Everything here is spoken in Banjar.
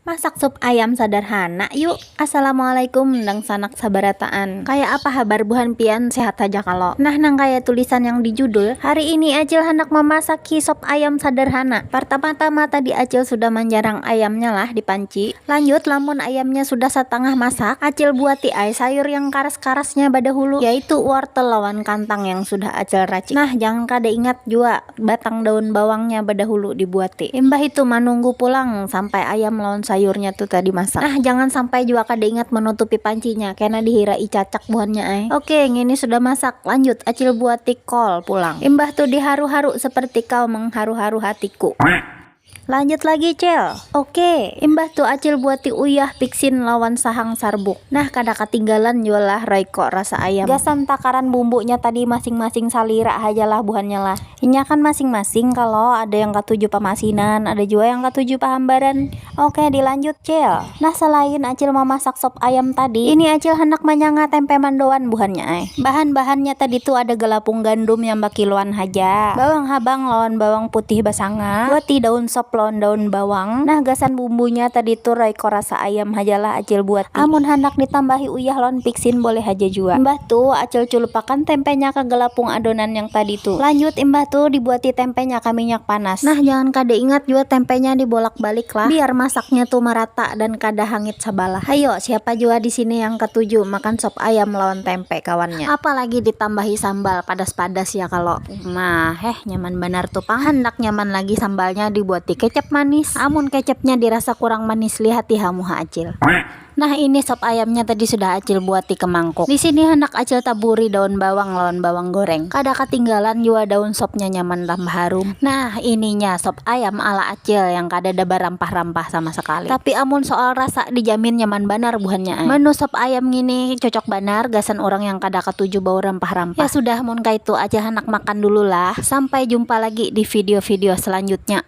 Masak sup ayam sadarhana yu. Assalamualaikum dangsanak sabarataan, kaya apa habar buhan pian sehat haja kalo? Nah nang kaya tulisan yang di judul, hari ini acil handak mamasaki sop ayam sadarhana, partama-tama tadi acil sudah manjarang ayamnya lah di panci, lanjut lamun ayamnya sudah satangah masak acil buati ai sayur yang karas-karasnya badahulu yaitu wortel lawan kantang yang sudah acil racik, nah jangan kada ingat jua. batang daun bawangnya badahulu dibuati imbah itu manunggu pulang sampai ayam lawan sayurnya tu tadi masak nah jangan sampai jua kada ingat manutupi pancinya kena dihirai cacak buhannya ai ok ngini sudah masak lanjut acil buati kol pulang imbah tu diharu-haru seperti kau mengharu-haru hatiku. Lanjut lagi cil. Oke, imbah tu acil buati uyah pixin lawan sahang sarbuk. Nah kada katinggalan jua lah royco rasa ayam. Gasan takaran bumbunya tadi masing-masing salira haja lah buhannya lah. Inya kan masing-masing kalo, ada yang katuju pamasinan, ada jua yang katuju pahambaran. Oke dilanjut cil. Nah salain acil mamasak sop ayam tadi, ini acil handak manyanga tempe mandoan buhannya ai. Bahan-bahannya tadi tu ada galapung gandum yang bakiloan haja, bawang habang lawan bawang putih basanga, wati daun sop lawan daun bawang. Nah gasan bumbunya tadi tu raiko rasa ayam hajalah acil buati. Amun handak ditambahi. uyah lawan pixin boleh haja jua. Imbah tu, Acil culupakan tempenya ka galapung adonan yang tadi tu. Lanjut, imbah tu dibuati tempenya ka minyak panas. Nah, jangan kada ingat jua tempenya dibolak-balik lah, biar masaknya tu marata dan kada hangit sabalah. Hayo, siapa jua di sini yang katuju makan sop ayam lawan tempe kawannya. Apalagi ditambahi sambal, padas-padas ya kalo. Nah, heh, nyaman banar tu pang. Handak nyaman lagi sambalnya dibuati kecap manis. Amun kecapnya dirasa kurang manis, lihati ha muha Acil. Nah ini sop ayamnya tadi sudah acil buati ke mangkuk. Di sini handak acil taburi daun bawang lawan bawang goreng. Kada katinggalan jua daun sopnya nyaman tambah harum. Nah ininya sop ayam ala acil yang kadada barampah-rampah sama sekali. Tapi amun soal rasa dijamin nyaman banar buhannya ai. Menu sop ayam ngini cocok banar gasan urang yang kada katuju bau rampah-rampah. Ya sudah mun kaitu acil handak makan dulu lah. Sampai jumpa lagi di video-video selanjutnya.